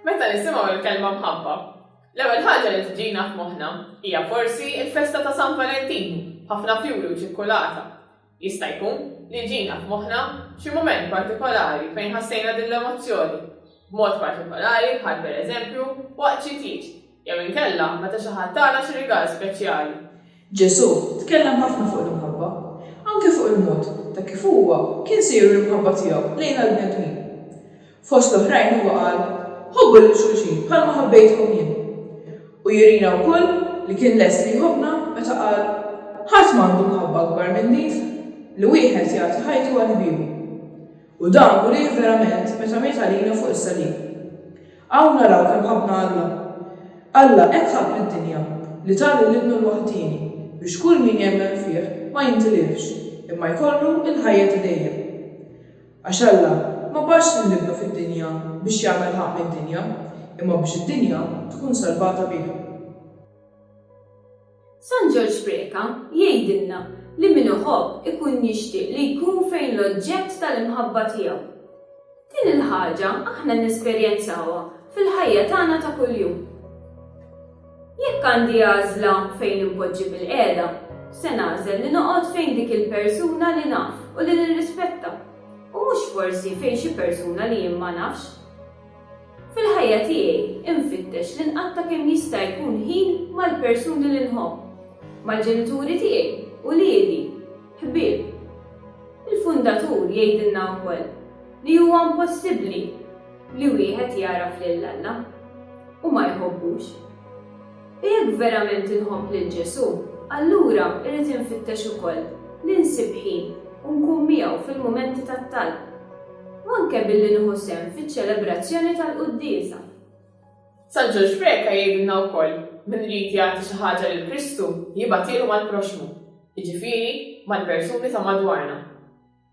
Meta nisimgħu l-kelma mħabba, l-ewwel ħaġa li tiġina f'moħħna hija forsi l-festa ta' San Valentin b'ħafna fjuri u ċikkulata. Jista' jkun li jġina f'moħħna xi mument partikolari fejn ħassejna din l-emozzjoni b'mod partikolari bħal pereżempju waqt xi tliet jew inkella meta xi ħadd tana xi rigal speċjali. Ġesù tkellem ħafna fuq l-imħabba, anke fuq il-mod ta' kif huwa kien se juri l-imħabba tiegħu lejn għall-bnedmin. Fost l-oħrajn huwa qal, Ħobbu lil xulxin bħalma ħabbejtkom jien. U jurina wkoll li kien lest li jħobbna meta qal, Ħadd m'għandu mħabba akbar minn din, li wieħed jagħti ħajtu għal ħbiebu. U dan urieh verament meta miet għalina fuq is-salib. Hawn naraw kemm ħabbna Alla. Alla hekk ħabb lid-dinja li ta lil Ibnu l-waħdieni biex kull min jemmen fih ma jintilifx, imma jkollu l-ħajja ta' dejjem. Għax Alla ma bagħatx lil Ibnu fid-dinja biex jagħmel ħaqq mid-dinja, imma biex id-dinja tkun salvata bih. San Ġorġ Preca jgħidilna li min iħobb ikun jixtieq li jkun fejn l-oġġett tal-imħabba tiegħu. Din il-ħaġa aħna nesperjenzawha fil-ħajja tagħna ta' kuljum. Jekk għandi għażla fejn inpoġġi bilqiegħda, se nagħżel li noqgħod fejn dik il-persuna li naf u li nirrispetta, u mhux forsi fejn xi persuna li jien ma nafx. Fil-ħajja tiegħi infittex li nqatta' kemm jista' jkun ħin mal-persuni li nħobb, mal-ġenituri tiegħi, uliedi, ħbieb. Il-Fundatur jgħidilna wkoll li huwa impossibbli li wieħed jagħraf lil Alla u ma jħobbux. U jekk verament inħobb lil Ġesù, allura irrid infittex ukoll li nsib ħin u nkun miegħu fil-mumenti tat-talb, u anke billi nieħu sehem fiċ-ċelebrazzjoni tal-quddiesa. San Ġorġ Preca jgħidilna wkoll, Min irid jagħti xi ħaġa lil Kristu, jibgħatielu mal-proxxmu, jiġifieri, mal-persuni ta' madwarna.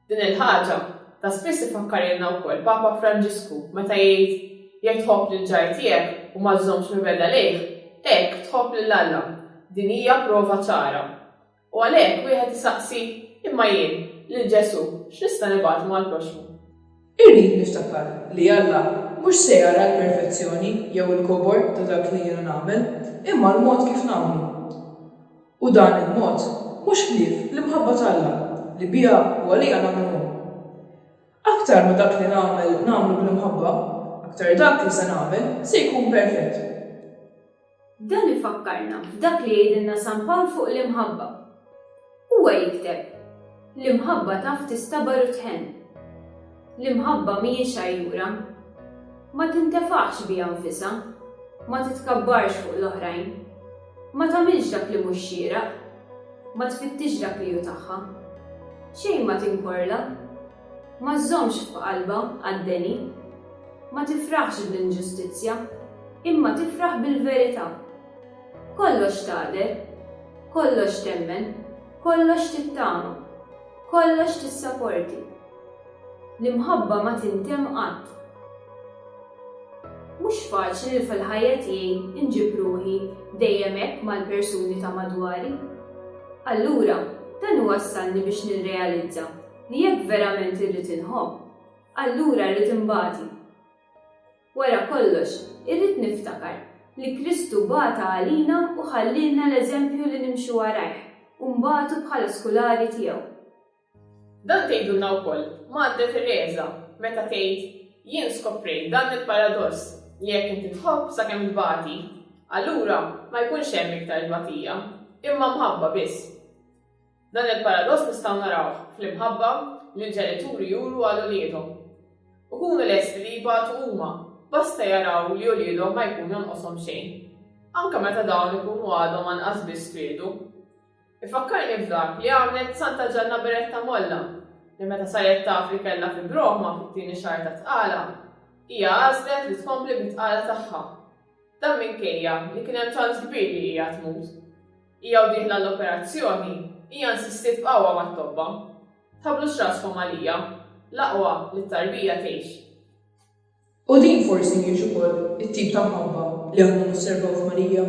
Din il-ħaġa ta' spiss ifakkarilna wkoll Papa Franġisku meta jgħid, Jekk tħobb lill-ġar tiegħek u ma żżommx mibegħda lejh, hekk tħobb lil Alla. Din hija prova ċara. U għalhekk wieħed isaqsi, Imma jien, lil Ġesù, x'nista' nibgħatlu mal-proxxmu? Irrid niftakar li Alla mhux se jara l-perfezzjoni jew il-kobor ta' dak li jiena nagħmel, imma l-mod kif nagħmlu. U dan il-mod mhux ħlief l-imħabba t'Alla li biha u għaliha nagħmlu hu. Aktar ma dak li nagħmel nagħmlu bl-imħabba, aktar dak li se nagħmel se jkun perfett. Dan ifakkarna f'dak li jgħidilna San Pawl fuq l-imħabba. Huwa jikteb, L-imħabba taf tistabar u tħenn. L-imħabba mhijiex għajjura. Ma tintefaħx biha nfisha. Ma titkabbarx fuq l-oħrajn. Ma tagħmilx dak li mhux xieraq. Ma tfittixx dak li hu tagħha. Xejn ma tinkorla. Ma żżommx f'qalbha għad-deni. Ma tifraħx bl-inġustizzja, imma tifraħ bil-verità. Kollox tagħder, kollox temmen, kollox tittama, kollox tissaporti. L-imħabba ma tintemm qatt. Mhux faċli li fil-ħajja tiegħi nġib ruħi dejjem hekk mal-persuni ta' madwari. Allura, dan iwassalni biex nirrealizza. li jekk verament irrid inħobb, allura rrid inbati. Wara kollox, irrid niftakar li Kristu bata għalina u ħallielna l-eżempju li nimxu warajh u nbatu bħala skulari tiegħu. Dan tgħidulna wkoll Madre Tereża meta tgħid, Jien skoprejt dan il-paradoss li jekk inti tħobb sakemm tbati, allura ma jkunx hemm iktar tbatija, imma mħabba biss. Dan il-paradoss nistgħu narawh fl-imħabba li l-ġenituri juru għal uliedhom. Ikunu lesti li jibatu huma, basta jaraw li uliedhom ma jkun jonqoshom xejn, anke meta dawn ikunu għadhom anqas biss twieldu. Ifakkarni f'dak li għamlet Santa Ġanna Beretta Molla, li meta saret taf li kellha fibroma fit-tieni xahar ta' tqala, hija għażlet li tkompli bit-tqala tagħha. Dan minkejja li kien hemm ċans kbir li hija tmut. Hija u dieħla għall-operazzjoni, hija nsistiet b'qawwa mat-tobba, Tħabblux raskom għalija, l-aqwa li t-tarbija tgħix. U din forsi mhijiex ukoll it-tip ta' mħabba li aħna nosservaw f'Marija?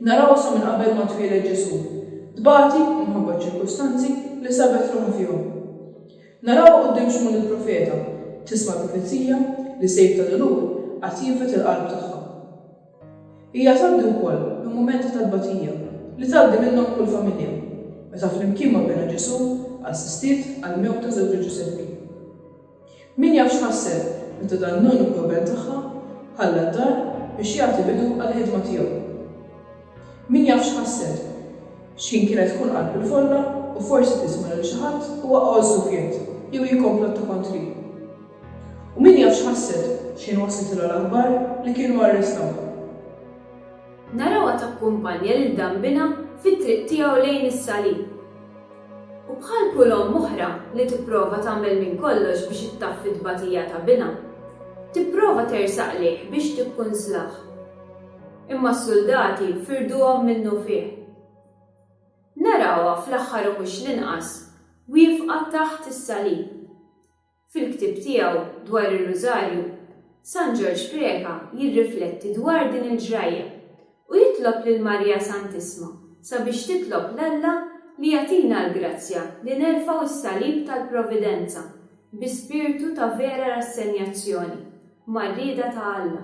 Narawha sa minn qabel ma twieled Ġesù, tbati minħabba ċ-ċirkustanzi li sabet ruħha fihom. Narawha quddiem Xmun il-profeta, tisma' l-profezija li sejf ta' dulur għad jinfed il-qalb tagħha. Hija tgħaddi wkoll minn mumenti ta' tbatija li tgħaddi minnhom kull familja, meta flimkien ma' binha Ġesù assistiet għall-mewta żewġha Ġużeppi. Min jaf x'ħasset meta dan l-uniku iben tagħha ħalla d-dar biex jagħti bidu għall-ħidma tiegħu. Min jaf x'ħasset, x'ħin kienet tkun qalb il-folla u forsi tisma' lil xi ħadd iwaqqgħu ż-żufjett jew jikkomplotta kontrih. U min jaf x'ħasset x'ħin waslitilha l-aħbar li kienu arrestawha. Narawha takkumpanja lil dambinha fit-triq tiegħu lejn is-Salib. U bħal kull omm oħra li tipprova tagħmel minn kollox biex ittaffi t-tbatija ta' binha, tipprova tersaq lejh biex tikkunslah. Imma s-suldati firduhom minnufih. Narawha, fl-aħħar u mhux l-inqas, wiefqa taħt is-Salib. Fil-ktieb tiegħu dwar ir-Rużarju, San Ġorġ Preca jirrifletti dwar din il-ġrajja u jitlob lil Marija Santissma sabiex titlob 'l Alla li jagħtina l-grazzja li nerfgħu s-salib tal-Providenza bi spirtu ta' vera rassenjazzjoni mar-rieda ta' Alla.